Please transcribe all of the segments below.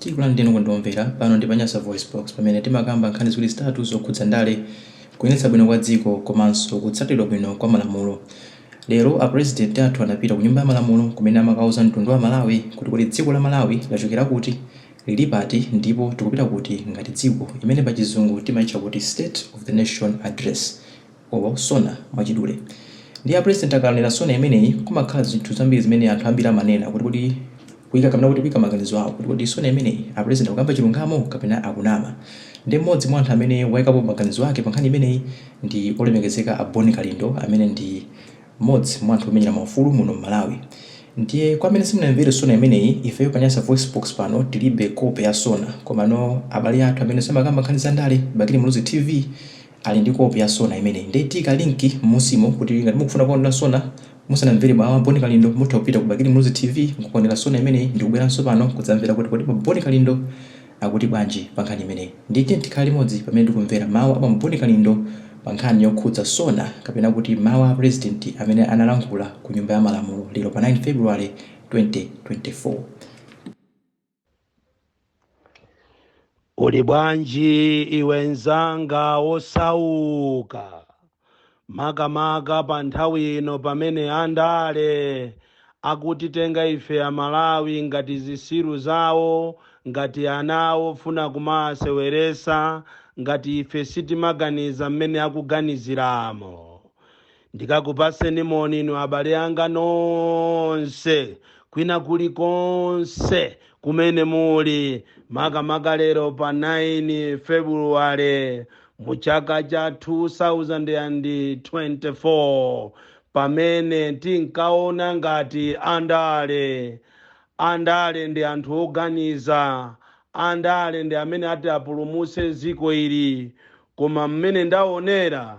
Tikulandireni okonda kumvera, pano ndi pa Nyasa VoiceBox pamene timakamba nkhani ziwiri zitatu zokhudza ndale, kuyendetsa bwino kwa dziko komanso kutsatiridwa bwino kwa malamulo. Lero a President athu anapita ku Nyumba ya Malamulo kumene amakauza mtundu wa Amalawi kuti kodi dziko la Malawi lachokera kuti, lili pati ndipo tikupita kuti ngati dziko, imene pachizungu timaitcha kuti State of the Nation Address. olo sona mwachidule ndiye a president akanena sona imeneyi kumakhala zinthu zambiri zimene anthu ambiri amanena kuti kodi kuika kapena kuti kuika maganizo awo kuti kodi sona imeneyi a president akukamba chilungamo kapena akunama ndiye mmodzi mwa anthu amene waikapo maganizo ake pa nkhani imeneyi ndi olemekezeka a Bon Kalindo amene ndi mmodzi mwa anthu omenyera maufulu muno m'Malawi ndiye kwa amene simunamvere sona imeneyi ifeyo pa Nyasa Voicebox pano tilibe kope ya sona komano abale athu amene samakamba nkhani za ndale Bakili Muluzi TV ali ndi kope ya sona imeneyi nde tiika link mmunsimo kuti ngati mukufuna kukaonera sona musanamvere ba Boni Kalindo mutha kupita ku Bakili Muluzi TV nkukaonera sona imeneyi ndikubweranso pano kudzamvera kuti kodi ba Boni Kalindo akuti bwanji pa nkhani imeneyi ndiye tiyeni tikhale limodzi pamene tikumvera mawu a ba Boni Kalindo pa nkhani yokhudza sona kapena kuti mawu a pulezidenti amene analankhula ku nyumba ya malamulo lero pa 9 February 2024. Uli bwanji iwe nzanga wosauka makamaka pa nthawi ino pamene andale akutitenga ife amalawi ngati zisiru zawo ngati ana awo ofuna kumawaseweresa ngati ife sitimaganiza mmene akuganiziramo Ndikakupatseni moni inu abale anga nonse kwina kulikonse kumene muli makamaka lero pa 9 February mu chaka cha 2024 pamene tinkaona ngati andale andale nde anthu oganiza andale nde amene ati apulumutse dziko ili koma mmene ndaonera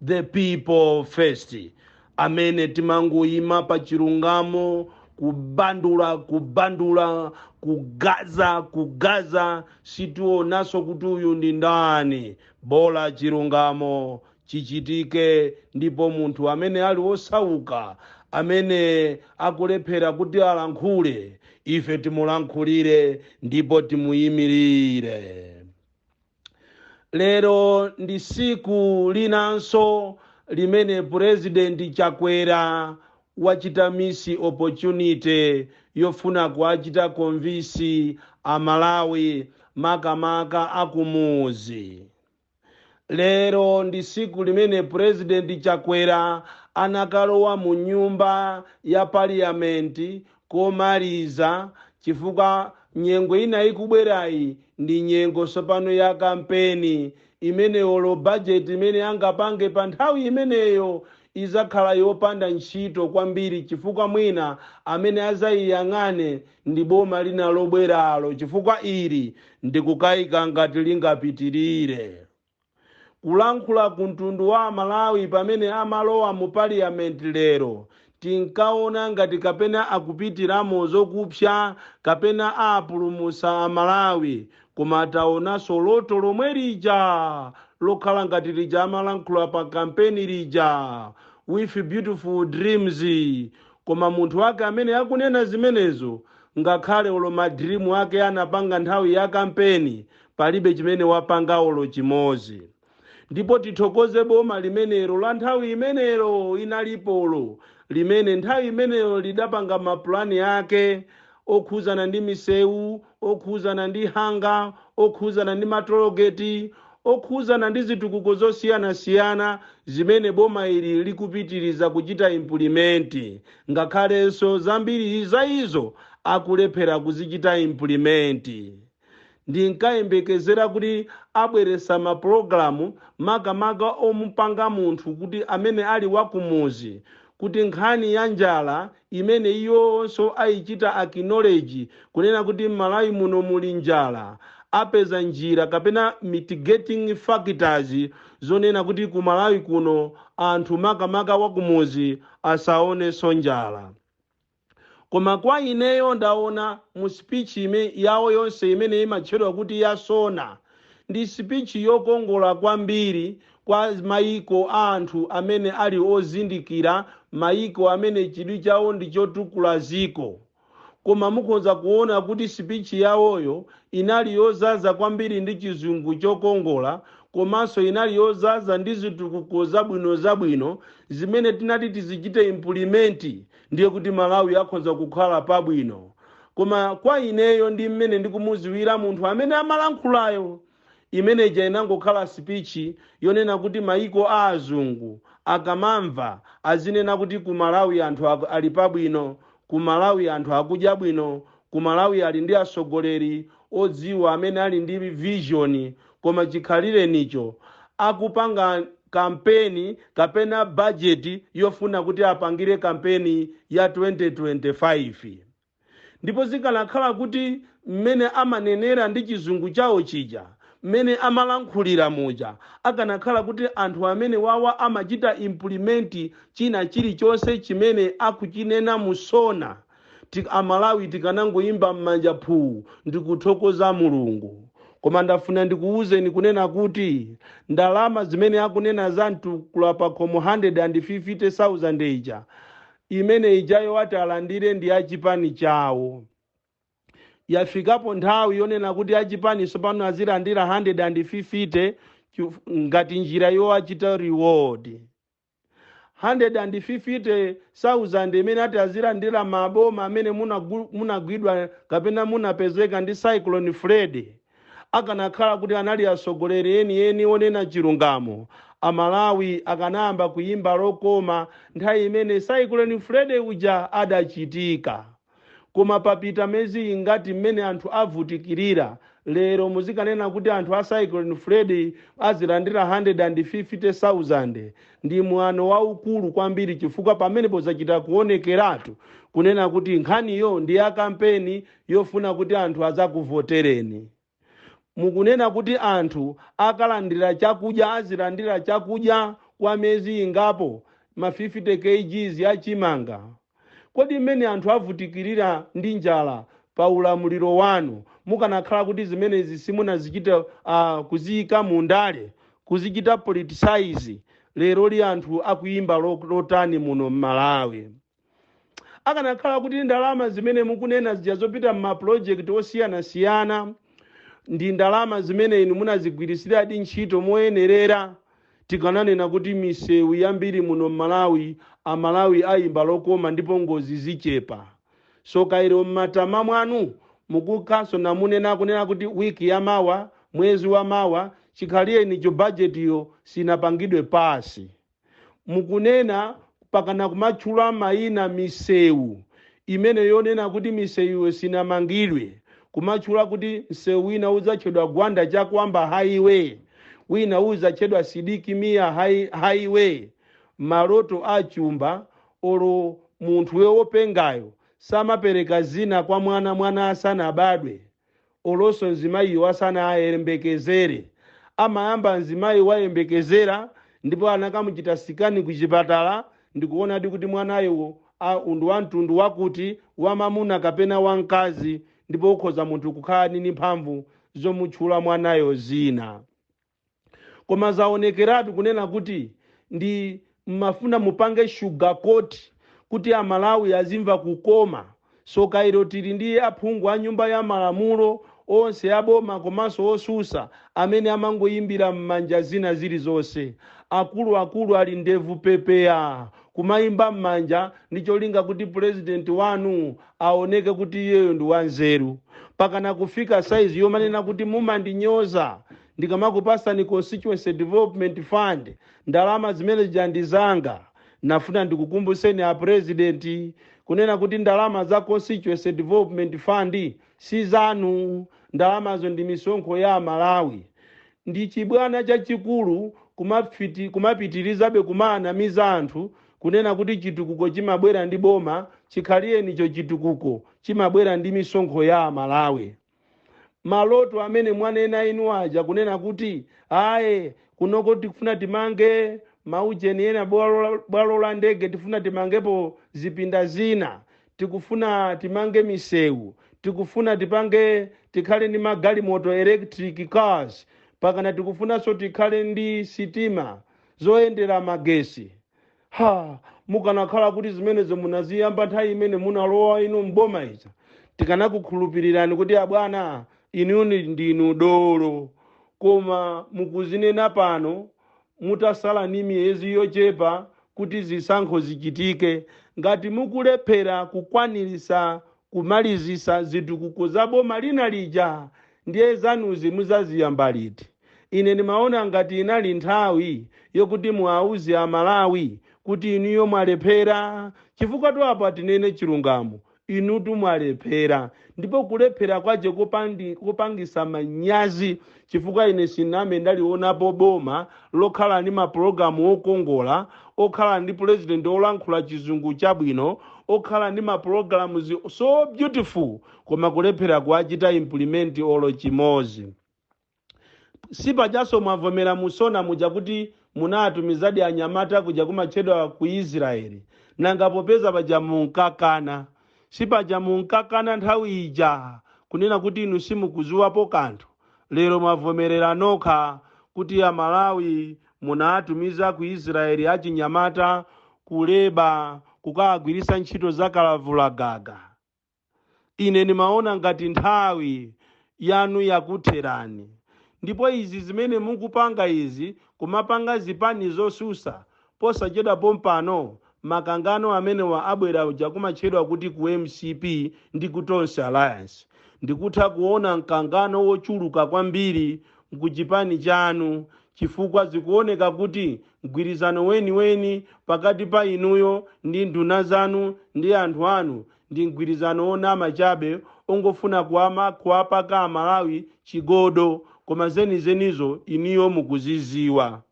the people first amene timangoyima pa chilungamo kubandula kubandula kugaza kugaza sitionanso kuti uyu ndi ndani bola chilungamo chichitike ndipo munthu amene ali wosauka amene akulephera kuti alankhule ife timulankhulire ndipo timuyimirire lero ndi siku linanso limene purezidenti chakwera wachita misi opportunity yofuna kuachita konvisi amalawi makamaka akumuzi lero ndi siku limene purezidenti chakwera anakalowa mu nyumba ya paliyamenti komaliza chifukwa nyengo ina ikubwerayi ndi nyengo tsopano ya kampeni imene olo bajeti imene angapange pa nthawi imeneyo izakhala yopanda ntchito kwambiri chifukwa mwina amene azayiyang'ane ndi boma lina lobweralo chifukwa ili ndikukayika ngati lingapitirire. Kulankhula ku mtundu wa aMalawi pamene amalowa mu parliament lero tinkaona ngati kapena akupitiramo zokupsa kapena apulumusa aMalawi koma taonanso loto lomwe lija lokhala ngati lija amalankhula pa kampeni lija with beautiful dreams koma munthu wake amene akunena zimenezo ngakhale olo ma dream ake anapanga nthawi ya kampeni palibe chimene wapanga olo chimozi ndipo tithokoze boma limenelo la nthawi imenelo inalipolo limene nthawi imenelo lidapanga mapulani ake okhuzana ndi misewu okhuzana ndi hanga okhuzana ndi matologeti okhuzana ndi zitukuko zosiyanasiyana zimene boma ili likupitiriza kuchita implement ngakhalenso zambiri za izo akulephera kuzichita implement Ndinkayembekezera kuti abweresa mapulogalamu makamaka omupanga munthu kuti amene ali wa kumuzi kuti nkhani ya njala imene iwowonso ayichita acknowledge kunena kuti m'Malawi muno muli njala apeza njira kapena mitigating factors zonena kuti ku Malawi kuno anthu makamaka wa kumuzi asaonenso njala. Koma kwa ineyo ndaona mu speech yawo yonse imene imatchedwa kuti ya SONA ndi speech yokongola kwambiri kwa mayiko a anthu amene ali ozindikira, mayiko amene chidwi chawo ndi chotukula ziko. Koma mukhoza kuona kuti speech yawoyo inali yozaza kwambiri ndi chizungu chokongola komanso inali yozaza ndi zitukuko zabwino zabwino zimene tinati tizichite implement ndiye kuti Malawi akhonza kukhala pabwino koma kwa ineyo ndi mmene ndikumuziwira munthu amene amalankhulayo imeneja inangokhala speech yonena kuti maiko a azungu akamamva azinena kuti ku Malawi anthu ali pabwino ku Malawi anthu akudya bwino ku Malawi ali ndi asogoleri odziwa amene ali ndi vision koma chikhalirenicho akupanga kampeni kapena bajeti yofuna kuti apangire kampeni ya 2025 ndipo zikanakhala kuti mmene amanenera ndi chizungu chawo chija mmene amalankhulira muja akanakhala kuti anthu amenewawa amachita implement china chilichonse chimene akuchinena mu SONA Tik a Malawi tikanangoimba mmanja phuu ndikuthokoza Mulungu. Koma ndafuna ndikuuzeni kunena kuti ndalama zimene akunena za mtukula pakhomo 150,000 ija, imene ijayo ati alandire ndi a chipani chawo. Yafikapo nthawi yonena kuti a chipani tsopano azilandira 150 chif ngati njira yowachita reward. 150,000 imene ati azilandira maboma amene munagu- munagwidwa kapena munapezeka ndi cyclone freddy akanakhala kuti anali atsogoleri enieni onena chilungamo amalawi akanayamba kuyimba lokoma nthawi imene cyclone freddy uja adachitika Koma papita mezi ingati mmene anthu avutikilira lero muzikanena kuti anthu a Cyclone Freddy azilandira 150,000 ndi mwano waukulu kwambiri chifukwa pamenepo zachita kuonekeratu kunena kuti nkhaniyo ndi ya kampeni yofuna kuti anthu azakuvotereni. Mukunena kuti anthu akalandira chakudya azilandira chakudya kwa mezi ingapo, ma 50 kgs ya chimanga. Kodi mmene anthu avutikilira ndi njala pa ulamuliro wanu mukanakhala kuti zimenezi simunazichita kuziyika mu ndale, kuzichita politicize, leroli anthu akuyimba lotani muno mMalawi? akanakhala kuti ndalama zimene mukunena zija zopita m'mapulojekiti osiyanasiyana ndi ndalama zimene inu munazigwiritsiradi ntchito moyenerera tikananena kuti misewu yambiri muno m'malawi amalawi ayimba lokoma ndipo ngozi zichepa tsoka ilo m'matama mwanu mukukha sona munena kunena kuti wiki ya mawa mwezi wa mawa chikhalirenicho bajetiyo sinapangidwe pasi mukunena pakana kumatchula maina misewu imene yonena kuti misewuyo sinamangidwe kumatchula kuti msewu wina udzatchedwa gwanda chakuamba highway wina udzatchedwa sidik mia hi- highway maloto a chumba olo munthu wopengayo samapereka dzina kwa mwana mwana asanabadwe olonso mzimayiyo asanayembekezere. Amayamba mzimayi wayembekezera ndipo anakamuchita sikani kuchipatala ndikuonadi kuti mwanayo a ndi wamtundu wakuti, wamamuna kapena wamkazi ndipo ukhoza munthu kukhala ni ni mphamvu zomutchula mwanayo dzina. koma zaonekeratu kunena kuti ndi mmafuna mupange sugarcoat kuti amalawi azimva kukoma soka ilo tili ndi aphungu a nyumba ya malamulo onse aboma komanso osusa amene amangoyimba mmanja zina zilizonse akulu akulu ali ndevu pepeya kumayimba mmanja ndi cholinga kuti president wanu aoneke kuti iyeyo ndi wanzeru pakana kufika size yomanena kuti mumandinyoza ndikamakupasani constituency development fund ndalama zimene zija ndi zanga nafuna ndikukumbuseni a president kunena kuti ndalama za constituency development fund si zanu ndalamazo ndi misonkho ya amalawi ndi chibwana chachikulu kumapiti- kumapitirizabe kumaanamiza anthu Kunena kuti chitukuko chimabwera ndi boma chikhalirenicho chitukuko chimabwera ndi misonkho ya Amalawi. Maloto amene mwanena inu aja kunena kuti aye kunoko tikufuna timange maujeni ena bwalo la- bwalo la ndege tifuna timangepo zipinda zina tikufuna timange misewu tikufuna tipange tikhale ndi magalimoto electric cars pakana tikufunanso tikhale ndi sitima zoyendera magesi. Ha! Mukanakhala kuti zimenezo munaziyamba nthawi imene munalowa inu m'boma ija, tikanakukhulupirirani kuti abwana inu ndinu dolo. Koma mukuzinena pano mutasala ni miyezi yochepa kuti zisankho zichitike. Ngati mukulephera kukwanirisa kumalizisa zitukuko za boma lina lija, Ndiye zanuzi muzaziyamba liti? Ine ndimaona ngati inali nthawi yokuti muauze a Malawi kuti inuyo mwalephera. Chifukwatu apa tinene chilungamo, inutu mwalephera ndipo kulephera kwache kopangi- kopangisa manyazi chifukwa ine sinambe ndalionapo boma lokhala ndi mapologalamu okongola, okhala ndi pulezidenti olankhula chizungu chabwino, okhala ndi mapologalamuzi so beautiful. koma kulephera kuwachita implement olo chimozi sipajaso mwavomera mu SONA muja kuti munawatumizadi anyamata kuja kumatchedwa ku israeli nanga popeza paja munkakana sipaja munkakana nthawi ija kunena kuti inu simukuziwapo kanthu lero mwavomerera nokha kuti amalawi munawatumiza ku israeli achinyamata kuleba kukawagwirisa ntchito za kalavulagaga Ine ndimaona ngati nthawi yanu yakutherani. Ndipo izi zimene mukupanga izi, kumapanga zipani zosusa, posachedwa pompano makangano amenewa abwera cha kumatchedwa kuti ku mcp ndi ku Tonse Alliance. Ndikutha kuona mkangano wochuluka kwambiri ku chipani chanu chifukwa zikuoneka kuti mgwirizano weniweni pakati pa inuyo ndi nduna zanu ndi anthu anu Ndi mgwirizano wonama chabe ongofuna kuwapaka amalawi chigodo koma zenizenizo inuyo mukuziziwa.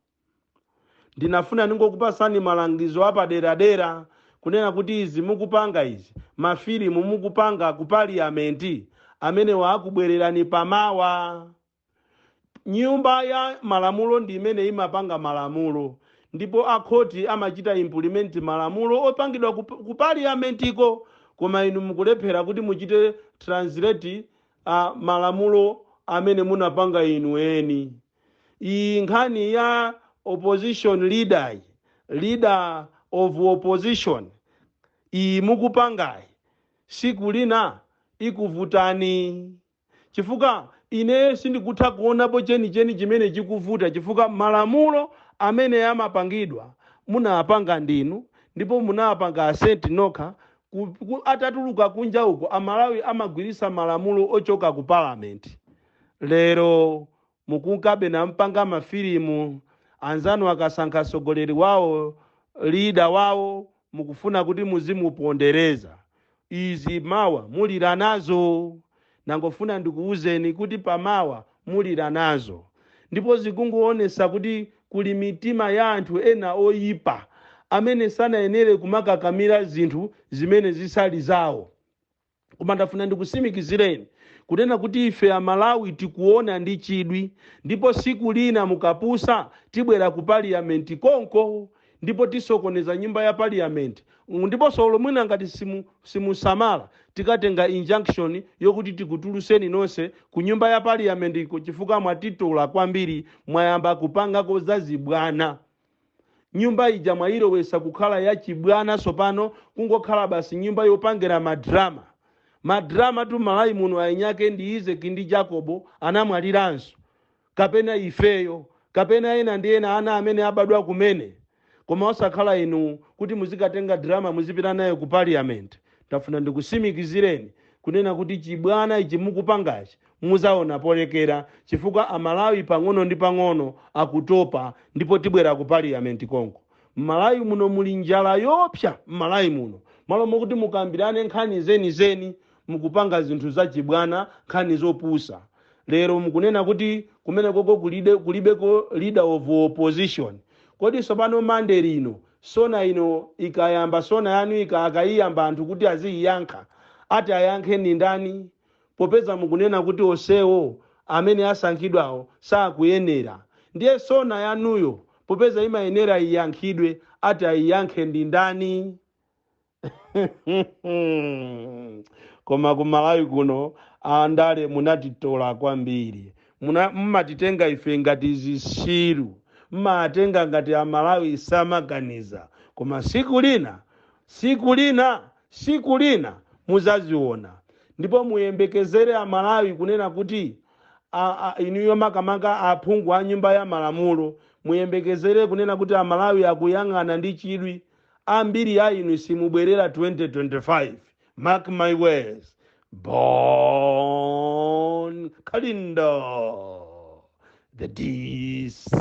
Ndinafuna ndingokupasani malangizo apaderadera kunena kuti izi mukupanga izi ma filimu mukupanga ku paliyamenti amenewa akubwererani pamawa. Nyumba ya malamulo ndi imene imapanga malamulo ndipo a khoti amachita implement malamulo opangidwa ku, ku parliament ko koma inu mukulephera kuti muchite translate malamulo amene munapanga inu eni. Iyi nkhani ya opposition leader yi, leader of opposition iyi mukupangayi siku lina ikuvutani. chifukwa ine sindikutha kuonapo chenicheni chimene chikuvuta, chifukwa malamulo amene amapangidwa munawapanga ndinu ndipo munawapanga assent nokha ku, ku, atatuluka kunja uko amalawi amagwirisa malamulo ochoka ku parliament lero Mukunkabe nampanga ma filimu anzanu akasankha sogoleri wawo, leader wawo mukufuna kuti muzimupondereza. Izi mawa mulira nazo. Ndangofuna ndikuuzeni kuti pamawa mulira nazo. Ndipo zikungowonesa kuti kuli mitima ya anthu ena oyipa amene sanayenere kumakakamira zinthu zimene zisali zawo. Koma ndafuna ndikusimikizireni kunena kuti ife a Malawi tikuona ndi chidwi ndipo siku lina mukapusa tibwera ku parliament konko ndipo tisokoneza nyumba ya parliament ndiposo olo mwina ngati simusamala tikatenga injunction yokuti tikutuluseni nonse ku nyumba ya parliament ko chifukwa mwatitola kwambiri mwayamba kupangako za zibwana Nyumba ija mwayilowesa kukhala ya chibwana sopano kungokhala basi nyumba yopangira ma drama. Ma drama tu mmalawi muno ayinyake ndi Izeki ndi Jakobo anamwaliranso. Kapena ifeyo. Kapena ena ndi ena ana amene abadwa kumene. Koma osakhala inu kuti muzikatenga drama muzipita nayo ku parliament. Ndafuna ndikusimikizireni kunena kuti chibwana ichi mukupangachi Muzaona polekera chifukwa amalawi pang'ono ndi pang'ono akutopa ndipo tibwera ku parliament konko. Mmalawi muno muli njala yoopsa mmalawi muno. Malo mokuti mukambirane nkhani zeni zeni mukupanga zinthu zachibwana nkhani zopusa. Lero mukunena kuti kumenekoko kulibeko leader of opposition. Kodi sopano monday lino sona ino ikayamba sona yanu ika akayiyamba anthu kuti aziyiyankha ati ayankhe ndi ndani? Popeza mukunena kuti onsewo amene asankhidwawo sakuyenera, ndiye SONA yanuyo popeza imayenera iyankhidwe, ati ayiyankhe ndi ndani? Koma ku Malawi kuno andale munatitola kwambiri. Muna, mumatitenga ife ngati zitsiru. Mmawatenga ngati Amalawi samaganiza. Koma tsiku lina, tsiku lina Siku lina muzaziona ndipo muyembekezere Amalawi kunena kuti a, a, inuyo makamaka aphungu a nyumba ya malamulo muyembekezere kunena kuti Amalawi akuyang'ana ndi chidwi. Ambiri a inu simubwerera 2025. Mark my words. Bon Kalindo, the DC.